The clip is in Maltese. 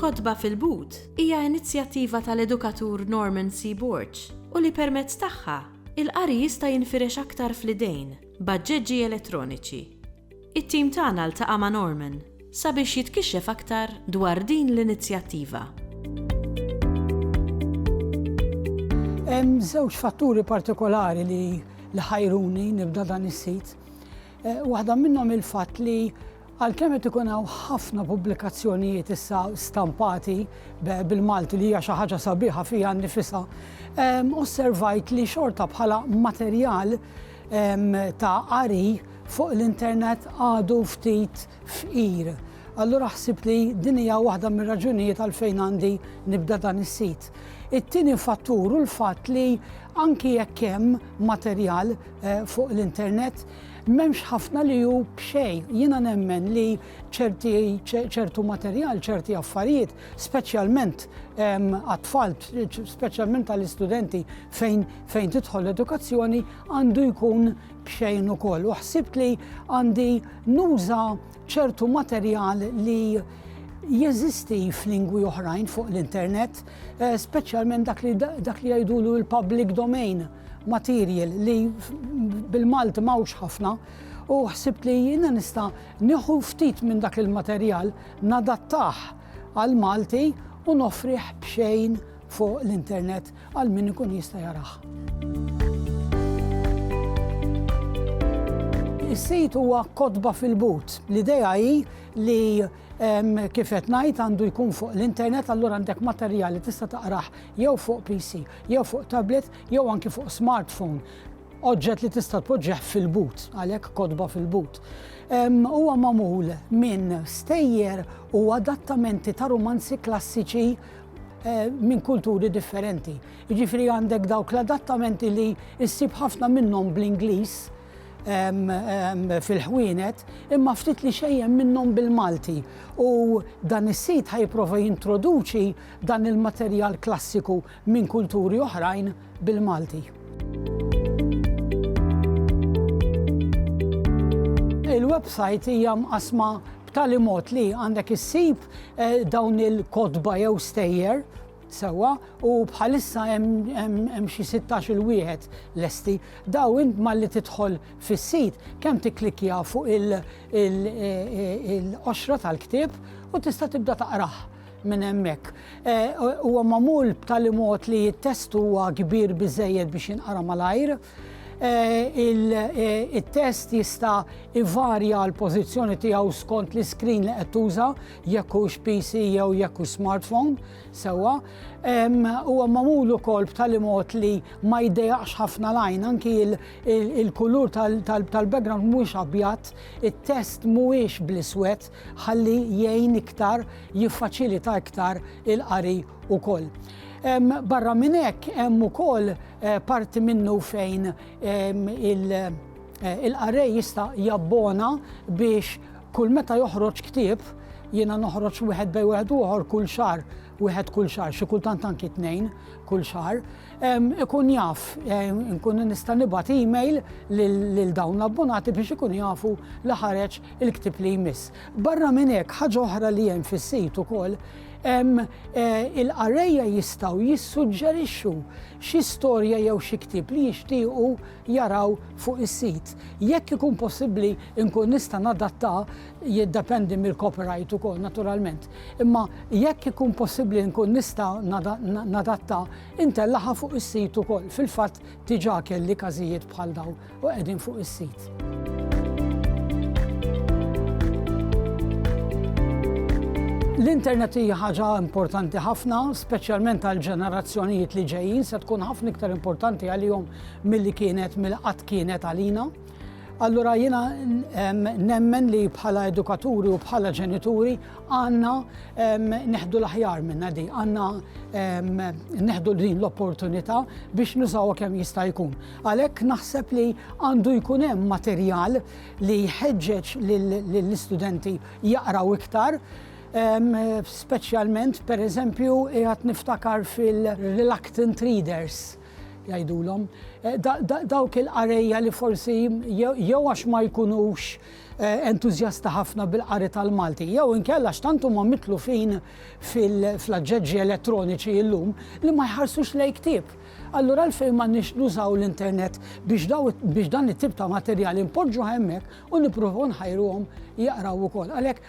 Kotba fil-But hija inizjattiva tal-edukatur Norman C. Borg u li permezz tagħha, il-qari jista' jinfirex aktar fl-idejn b'aġġeġġi elettroniċi. It-tim tagħna ltaqa' ma' Norman sabiex jitkixxef aktar dwar din l-inizjattiva. Hemm żewġ fatturi partikolari li li ħajruni nibda dan is-sit. Waħda minnhom il-fatt li għalkemm qed ikun hawn ħafna pubblikazzjonijiet issa stampati bil-Malti li hija xi ħaġa sabiħa fiha nnifisha, osservajt li xorta bħala materjal ta' qari fuq l-internet għadu ftit fqir. Allura ħsibt li din hija waħda mir-raġunijiet għalfejn għandi nibda dan is-sit. It-tieni fattur hu l-fatt li anki jekk hemm materjal fuq l-internet, m'hemmx ħafna li hu b'xejn. Jiena nemmen li ċerti ċertu materjal, ċerti affarijiet speċjalment għat-tfal, speċjalment għall-istudenti fejn fejn tidħol l-edukazzjoni għandu jkun bxejn ukoll. U ħsibt li għandi nuża ċertu materjal li jeżisti f'lingwi oħrajn fuq l-internet, eh, speċjalment dak li dak li jgħidulu l-public domain material li bil-Malti mawx ħafna u ħsibt li jina nista nieħu ftit minn dak il-materjal nadattah għall-Malti u noffrih b'xejn fuq l-internet għal min ikun jista' jarah. Is-sit huwa kotba fil-but. L-idea hi li kif qed ngħid għandu jkun fuq l-internet allura għandek materjal li tista' taqrah jew fuq PC, jew fuq tablet, jew anki fuq smartphone. Oġġett li tista' tpoġġih fil-but, għalhekk kotba fil-but. Huwa magħmul minn stejjer u adattamenti ta' rumanzi klassiċi Eh, minn kulturi differenti. Jiġifieri għandek dawk l-adattamenti li ssib ħafna minnhom bl-Ingliż fil-ħwienet, imma ftit li xejjem minnhom bil-Malti. U dan is-sit ħajprova jintroduċi dan il-materjal klassiku minn kulturi oħrajn bil-Malti. Il-website hija mqassma b'tali mod li għandek issib eh, dawn il-kotba jew stejjer sewa u bħalissa hemm xi 16 il wieħed lesti. Daw int malli tidħol fis-sit kemm tikklikja fuq il-qoxra tal-ktieb u tista' tibda taqrah. minn hemmhekk. Huwa magħmul b'tali mod li t-test huwa kbir biżejjed biex jinqara malajr. Il-test jista' ivarja l-pożizzjoni tiegħu skont l-iskrin li qed tuża, jekk hux PC jew jekk hux smartphone, sewwa. Huwa magħmul ukoll b'tali mod li ma jdejjaqx ħafna l-għajn, anki il-kulur tal-background mhuwiex abjad, it-test mhuwiex bl-iswed, ħalli jgħin iktar, jiffaċilita iktar il-qari wkoll. Barra minn hekk hemm ukoll eh, parti minnu fejn eh, il-qarej jista' jabbona biex kull meta joħroġ ktieb jiena noħroġ wieħed bej wieħed uħor kull xar wieħed kull xahar, xi kultant anki tnejn kull xahar, ikun jaf, nkun nista' nibgħat email lil dawn l-abbonati biex ikunu jafu li ħareġ il-ktieb li jmiss. Barra minn hekk, ħaġa oħra li hemm fis-sit ukoll, eh, il-qarrejja jistgħu jissuġġerixxu xi storja jew xi ktieb li jixtiequ jaraw fuq is-sit. Jekk ikun possibbli nkun nista' nadatta jiddependi mill-copyright ukoll naturalment, imma jekk ikun possibbli nkun nista' nadatta, intellagħha fuq is-sit ukoll. Fil-fatt diġà kelli każijiet bħal dawn u qegħdin fuq is-sit. L-internet hija ħaġa importanti ħafna, speċjalment għall-ġenerazzjonijiet li ġejjin, se tkun ħafna iktar importanti għalihom milli kienet mill-qatt kienet għalina. Allura jiena nemmen li bħala edukaturi u bħala ġenituri għandna neħdu l-aħjar minna di, għandna neħdu din l-opportunità biex nużawha kemm jista' jkun. Għalhekk naħseb li għandu jkun hemm materjal li jħeġġeġ lill-istudenti jaqraw iktar Speċjalment, per eżempju, jgħat niftakar fil-reluctant readers, jgħidulhom, dawk il-qarejja li forsi jew għax ma jkunux eh, entużjasta ħafna bil-qari tal-Malti, jew inkella x'tant huma mitlu fin fil-aġġeġġi elettroniċi illum li ma jħarsux lej ktieb. Allura l-fejn ma nix nużaw l-internet biex dan it-tip ta' materjal impoġġu hemmhekk u nippruvaw nħajruhom jaqraw ukoll. Għalhekk